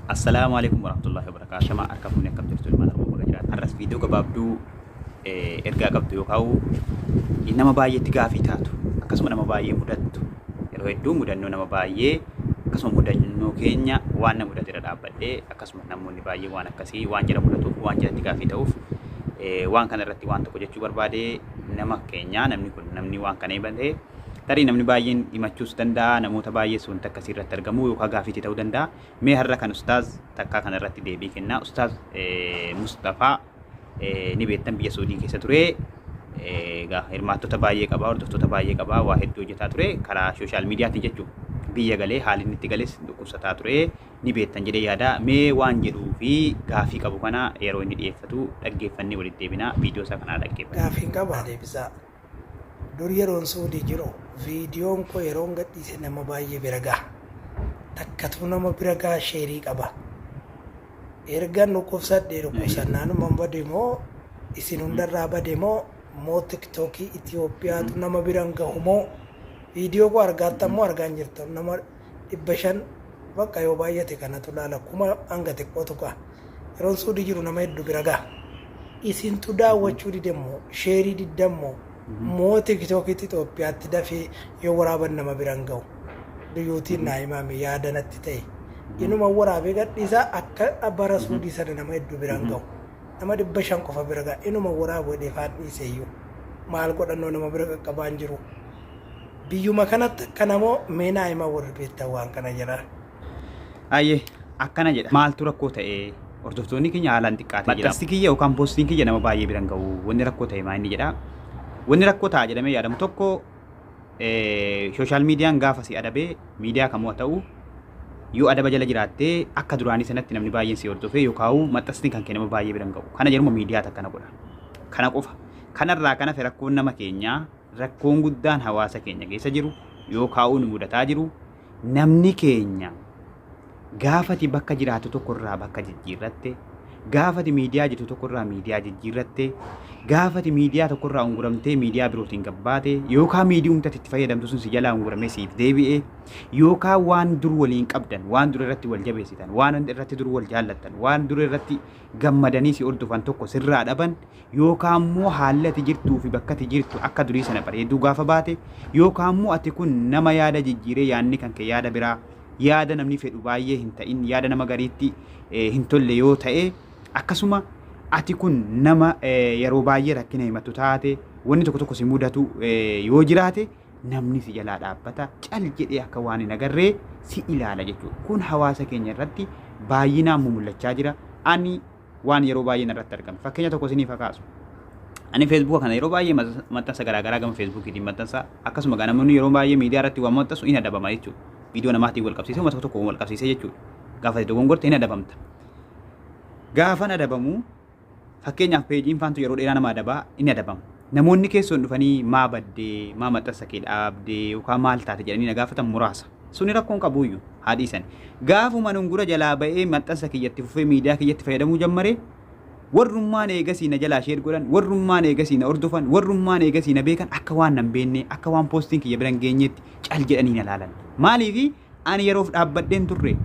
Assalaamu Aleeykum Warahmatullaahi Wabarakaatuh Ashamaa Harka Fuunee Akkam Jirtu Ilmaan Oromoo Baga Jiraatan Har'as Viidiyoo Gabaabduu Ergaa Qabdu Yookaa'u Nama Baay'eetti Gaafii Taatu Akkasuma Nama Baay'ee Mudattu Yeroo Hedduu Mudannoo Nama Baay'ee Akkasuma Mudannoo Keenya Waan Nama Mudate Irra Dhaabbadhee Akkasuma Namoonni Baay'ee Waan Akkasii Waan Jara Mudatuuf Waan Jaratti Gaafii Ta'uuf Waan Kana Irratti Waan Tokko Jechuu Barbaadee Nama Keenya Namni Kun Namni Waan Kana Himate Tarii Namni Baay'een Himachuus Danda'a Namoota Baay'ees Wanta Akkasii Irratti Argamu Yookaan Gaafiitti Ta'uu Danda'a Mee har'a kan ustaaz takkaa kana irratti deebii kennaa ustaaz Musxafaa ni beektan biyya Suudii keessa ture egaa hirmaattota baay'ee qabaa hordoftoota baay'ee qabaa waa hedduu hojjetaa ture karaa sooshaal miidiyaatiin jechuun biyya galee haalli inni itti gales dhukkubsataa ture ni beektan jedhee yaada mee waan jedhuu fi gaafii qabu kana yeroo inni dhiyeeffatu dhaggeeffannee walitti deebinaa viidiyoo isaa kanaa dhaggeeffatu. Gaafiin qabaa deebisaa. Dur yeroon Suudii jiru viidiyoon koo yeroon gadhiise nama baay'ee bira gaha. Takkatuu nama bira gaha sheerii qaba. Ergan dhukkubsadhee dhukkubsannaanuman bade moo isin hundarraa bade moo moo tiktookii Itoophiyaatu nama biran gahu moo viidiyoo koo argaattan moo argaa hin jirtan nama dhibba shan baqqa yoo baay'ate kanatu laala kuma hanga xiqqoo tuqa yeroon suudi jiru nama heddu bira gaha isintu daawwachuu dide immoo sheerii didda immoo moo tiktookitti Itoophiyaatti dafee yoo waraaban nama biran gahu duyyuutiin naa himaame yaada natti ta'e inuma waraabee gadhiisaa akka bara suudii sana nama heddu biran gahu nama dhibba shan qofa bira gaha inuma waraabu hedheefaan dhiiseeyyuu maal godhannoo nama bira qaqqabaan jiru. Biyyuma kanatti akkana moo mee naa himaa warri beektan waan kana jedhaa. Ayyee akkana jedha maaltu rakkoo ta'e hordoftoonni keenya haalaan xiqqaatee jira maxxansi kiyya yookaan poostiin kiyya nama baay'ee biran ga'u wanni rakkoo ta'e maa inni jedha wanni rakkoo ta'a jedhamee yaadamu tokko sooshaal miidiyaan gaafa si adabee miidiyaa kamuu haa ta'u yoo adaba jala jiraattee akka duraanii sanatti namni baay'een si hordofee yookaan maxxansi kan kennama baay'ee biran ga'u kana jedhuma miidiyaa takka na godha kana qofa kanarraa kana fi rakkoon nama keenyaa rakkoon guddaan hawaasa keenya keessa jiru yoo kaa'uu nu mudataa jiru namni keenya gaafati bakka jiraatu tokkorraa bakka jijjiirratte gaafati miidiyaa jirtu tokkorraa miidiyaa jijjiirratte gaafati miidiyaa tokkorraa unguramtee miidiyaa birootiin gabbaate yookaan miidiyumtatti itti fayyadamtu sun si jalaa unguramee siif deebi'ee yookaan waan dur waliin qabdan waan dur irratti wal jabeessitan waan irratti dur wal jaallattan waan dur irratti gammadanii si hordofan tokko sirraa dhaban Yookaa immoo haalli ati jirtuu fi bakka ati jirtu akka durii sana bareeduu gaafa baate, yookaa immoo ati kun nama yaada jijjiiree yaadni kan kee yaada biraa, yaada namni fedhu baay'ee hin ta'in, yaada nama gariitti hin tolle yoo ta'e, akkasuma ati kun nama yeroo baay'ee rakkina himattu taate, wanni tokko tokko si mudatu yoo jiraate, namni si jalaa dhaabbata, cal jedhee akka waan hin agarree si ilaala jechuudha. Kun hawaasa keenya irratti baay'inaan mumul'achaa jira. Ani waan yeroo baay'ee narratti argame fakkeenya tokko isiniif haa kaasu. Ani feesbuuka kana yeroo baay'ee maxxansa garaagaraa gama feesbuukiitiin maxxansa akkasuma gaa namoonni yeroo baay'ee miidiyaa irratti waan maxxansu hin adabama jechuudha. Viidiyoo namaatiin wal qabsiisee uummata tokko wal qabsiisee jechuudha. Gaafa itti dogongorte hin adabamta. Gaafan adabamu fakkeenyaaf peejiin faantu yeroo dheeraa nama adabaa hin adabamu. Namoonni keessoon dhufanii maa badde, maa maxxansa kee dhaabde yookaan maal taate jedhanii na gaafatan muraasa. Suni rakkoo hin qabuuyyu, haa dhiisani. Gaafuma nungura jalaa ba'ee maxxansa kiyya itti fufee miidiyaa kiyyatti fayyadamuu jammare, warrummaan eegasii na jalaa share godhan, warrummaan eegasii na hordofan, warrummaan eegasii na beekan akka waan na hin beennee, akka waan postiin kiyya bira hin geenyeetti cal jedhanii na laalan. Maaliifi? Ani yeroof dhaabbadhee hin turre.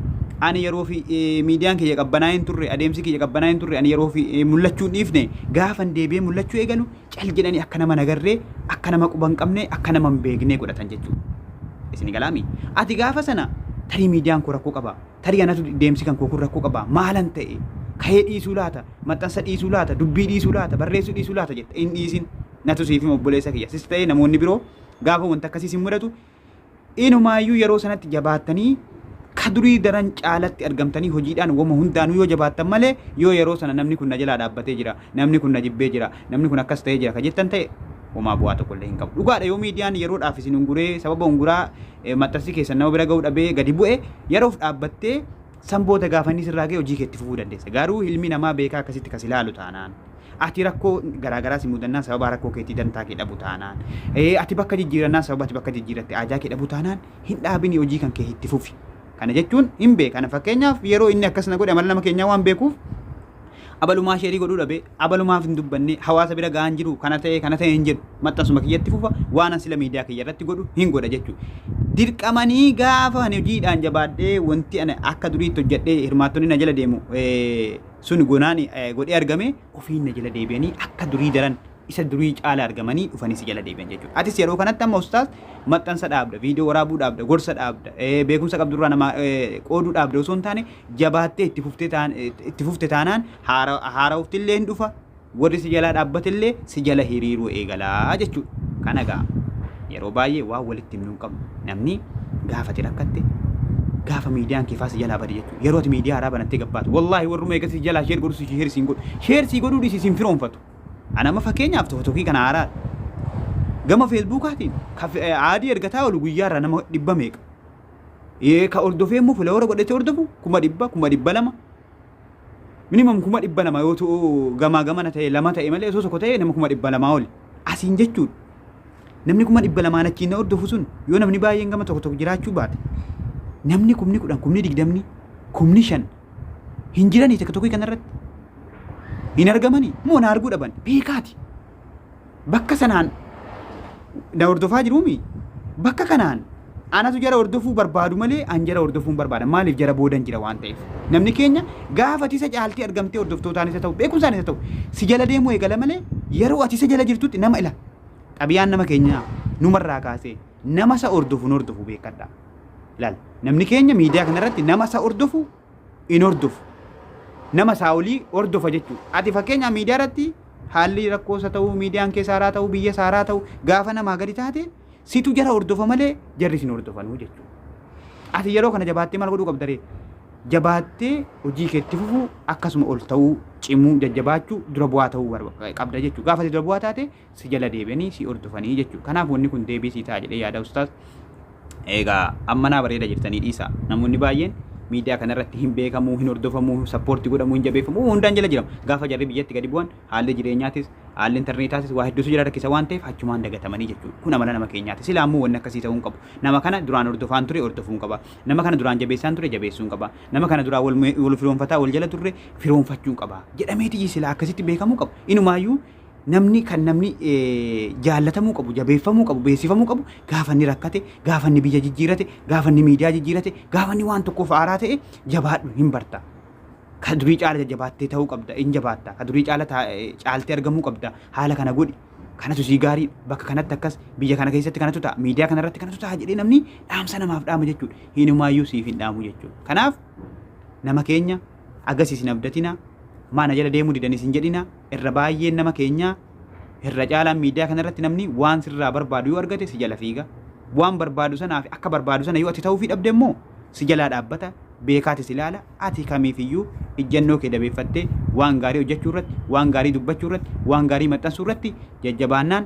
Ani yeroof miidiyaan kiyya qabbanaa'ee hin turre, adeemsi kiyya qabbanaa'ee hin turre, ani yeroof mul'achuu hin dhiifne. Gaafan deebi'ee mul'achuu eegalu cal jedhanii akka nama nagarree, akka nama quba hin qabne, akka nama hin beeknee godhatan jechuudha. Isin galaami. Ati gaafa sana tarii miidiyaan koo rakkoo qaba. Tarii anatu deemsi kan koo kun rakkoo qaba. Maalan ta'e? Ka'ee dhiisuu laata? Maxxansa dhiisuu laata? Dubbii dhiisuu laata? Barreessuu dhiisuu laata? jetta hin dhiisin. Natu siif hima obboleessa kiyya. Sis ta'ee namoonni biroo gaafa wanti akkasii sin mudatu Inumaayyuu yeroo sanatti jabaattanii ka durii daran caalatti argamtanii hojiidhaan wama hundaanuu yoo jabaattan malee yoo yeroo sana namni kun na jalaa dhaabbatee jira, namni kun na jibbee jira, namni kun akkas ta'ee jira ka jettan ta'e homaa bu'aa tokko illee hin qabu. Dhugaadha yoo miidiyaan yeroodhaaf isin unguree sababa unguraa eh, maxxansi keessan nama bira ga'uu dhabee gadi bu'e yeroof dhaabbattee san booda gaafanni sirraa ga'e hojii keetti fufuu dandeessa. Garuu ilmi namaa beekaa akkasitti kas ilaalu taanaan. Ati rakkoo garaa garaa si mudannaan sababa rakkoo keetii dantaa kee dhabu taanaan, ati bakka jijjiirannaan sababa ati bakka jijjiirratti aajaa kee dhabu taanaan hin dhaabini hojii kan kee itti fufi. Kana jechuun hin beeka. Kana fakkeenyaaf yeroo inni akkas na godhe amala nama keenyaa waan beekuuf abalumaa sheerii godhuu dhabe abalumaaf hin dubbanne hawaasa bira ga'aan jiru kana ta'e kana ta'e hin jedhu maxxansuma kiyyatti fufa waan sila miidiyaa kiyya irratti godhu hin godha jechuudha. Dirqamanii gaafa ani hojiidhaan jabaadhee wanti ani akka duriitti hojjedhee hirmaattonni na jala deemu sun gonaani godhee argame ofiin na jala deebi'anii akka durii daran isa durii caala argamanii dhufanii si jala deebi'an jechuudha. Atis yeroo kanatti amma ustaaz maxxansa dhaabda, viidiyoo waraabuu dhaabda, gorsa dhaabda, beekumsa qabdurraa nama qooduu dhaabda osoo hin taane jabaattee itti fufte taanaan haara'uuftillee hin dhufa warri si jalaa dhaabbatellee si jala hiriiruu eegala jechuudha. Kana egaa yeroo baay'ee waan walitti himnu hin qabnu. Namni gaafa ati rakkatte gaafa miidiyaan kee faa si jalaa bade jechuudha. Yeroo ati miidiyaa haaraa banattee gabbaatu wallaahi warruma eegasii si jalaa sheer godhu si sheer siin godhu. Sheer sii godhuu dhiisi siin firoonfatu. Ana amma fakkeenyaaf tooktookii kana haaraa gama feesbuukaatiin ka fe- aadii ergataa oolu guyyaarraa nama dhibba meeqa. Ee, Ka hordofee immoo filoora godhatee hordofu kuma dhibba kuma dhibba lama minimum kuma dhibba lama yoo ta'u gamaa gamana ta'e lama ta'e malee osoo tokko ta'e nama kuma dhibba lamaa oli asiin jechuun namni kuma dhibba lamaan achiin na hordofu sun yoo namni baay'een gama tokko tokko jiraachuu baate namni kumni kudhan kumni digdamni kumni shan hin jiranii tokko tokko kanarratti hin argamanii moo na arguu dhaban beekaati. bakka sanaan na hordofaa jiruumi bakka kanaan anatu jara hordofuu barbaadu malee an jara hordofuun barbaada maaliif jara boodan jira waan ta'eef namni keenya gaafa ati isa caaltee argamtee hordoftootaan isa ta'u beekumsaan isa ta'u si jala deemuu eegala malee yeroo ati isa jala jirtutti nama ila xabiyaan nama keenyaa numarraa kaasee nama isa hordofu nu hordofu beekadha ilaal namni keenya miidiyaa kanarratti nama isa hordofu hin hordofu. Nama isaa olii hordofa jechuudha. Ati fakkeenyaa miidiyaa irratti haalli rakkoo isa ta'uu, miidiyaan keessa haaraa ta'uu, biyya isaa haaraa ta'uu gaafa namaa gadi taate situ jara hordofa malee jarri isin hordofanuu jechuudha. Ati yeroo kana jabaattee maal godhuu qabdaree? Jabaattee hojii keetti fufuu akkasuma ol ta'uu, cimuu, jajjabaachuu, dura bu'aa ta'uu qabda jechuudha. Gaafa dura bu'aa taate si jala deebi'anii si hordofanii jechuudha. Kanaaf wanni kun deebii sii ta'a jedhee yaada ustaaz. Egaa amma naa bareeda jirtanii dhiisa. Namoonni baay'een miidiyaa kanarratti hin beekamuu, hin hordofamuu, sappoortii godhamuu, hin jabeeffamuu hundaan jala jiramu. Gaafa jarri biyyatti gadi bu'an haalli jireenyaatis, haalli intarneetaatis waa hedduutu jira rakkisa waan ta'eef achumaan dagatamanii jechuudha. Kun amala nama keenyaati. Silaa immoo wanni akkasii ta'uu hin qabu. Nama kana duraan hordofaan ture hordofuun qaba. Nama kana duraan jabeessaan ture jabeessuun qaba. Nama kana duraan wal, wal firoonfataa wal jala turre firoonfachuun qaba. Jedhameeti silaa akkasitti beekamuu qabu. Inumaayyuu namni kan namni jaallatamuu qabu, jabeeffamuu qabu, beeksifamuu qabu gaafa inni rakkate, gaafa inni biyya jijjiirate, gaafa inni miidiyaa jijjiirate, gaafa inni waan tokkoof aaraa ta'e jabaadhu hin barta. Ka durii caala jajjabaattee ta'uu qabda, hin jabaatta. Ka durii caala caaltee argamuu qabda. Haala kana godhi. Kanatu sii gaarii bakka kanatti akkas biyya kana keessatti kanatu ta'a miidiyaa kana irratti kanatu ta'a jedhee namni dhaamsa namaaf dhaama jechuudha. Hinumaayyuu siif hin dhaamu jechuudha. Kanaaf nama keenya agasisi hin abdatina maa na jala deemuu didanis hin jedhina irra baay'een nama keenyaa irra caalaan miidiyaa kana irratti namni waan sirraa barbaadu yoo argate si jala fiiga waan barbaadu sanaa fi akka barbaadu sana yoo ati ta'uu fi dhabde immoo si jalaa dhaabbata beekaati si ilaala ati kamiif iyyuu ijjannoo kee dabeeffattee waan gaarii hojjechuu irratti waan gaarii dubbachuu irratti waan gaarii maxxansuu irratti jajjabaannaan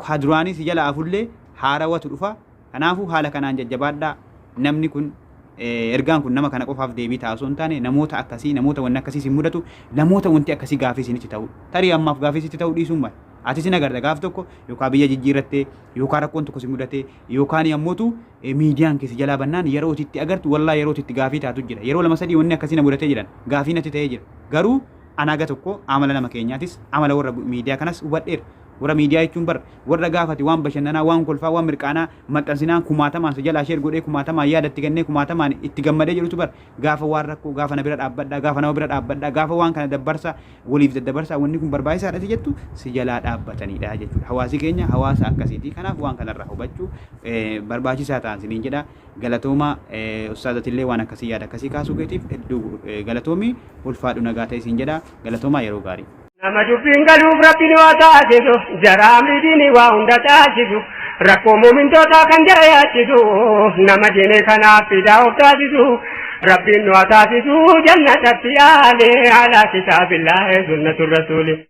kaduraanii si jala afullee haarawatu dhufa Kanaafuu haala kanaan jajjabaadhaa. Namni kun, ergaan kun nama kana qofaaf deebii ta'a osoo hin taane, namoota akkasii, namoota wanni akkasii isin mudatu, namoota wanti akkasii gaafii isinitti ta'u, tarii ammaaf gaafii sitti ta'uu dhiisuu mala. Atis hin agarta gaaf tokko yookaan biyya jijjiirrattee, yookaan rakkoon tokko si mudatee, yookaan ammootu miidiyaan kee si jalaa bannaan yeroo ati itti agartu wallaa yeroo ati itti gaafii taatu jira. Yeroo lama sadii wanni akkasii na mudatee jedhan gaafii natti ta'ee jira. Garuu ana haga tokko amala nama keenyaatis, amala warra miidiyaa kanas hubadheera. Warra miidiyaa jechuun bar warra gaafa ati waan bashannanaa, waan kolfaa, waan mirqaanaa maxxansinaan kumaatamaan si jalaa share godhee, kumaatamaan yaada itti kennee, kumaatamaan itti gammadee jedhutu bar gaafa waan rakkoo, gaafa na bira dhaabbadhaa, gaafa nama bira dhaabbadhaa, gaafa waan kana dabbarsaa, waliif daddabarsaa, wanni kun barbaachisaadha si jettu si jalaa dhaabbataniidha jechuudha. Hawaasi keenya hawaasa akkasiiti. Kanaaf waan kanarraa hubachuu barbaachisaa ta'an siniin jedha. Galatoomaa ustaaz atillee waan akkasii yaada akkasii kaasuu keetiif hedduu galatoomi ulfaadhu nagaa ta'e siin jedha. Galatoomaa yeroo gaarii. Nama dubbiin galuuf rabbiin waa taasisu jaraa miidhiini waa hunda taasisu rakkoo muumintootaa kan jara yaachisu nama diinee kanaaf fidaa of taasisu rabbiin waa taasisu jannatatti yaale alaa kitaabillaahi sunnatu rasuuli.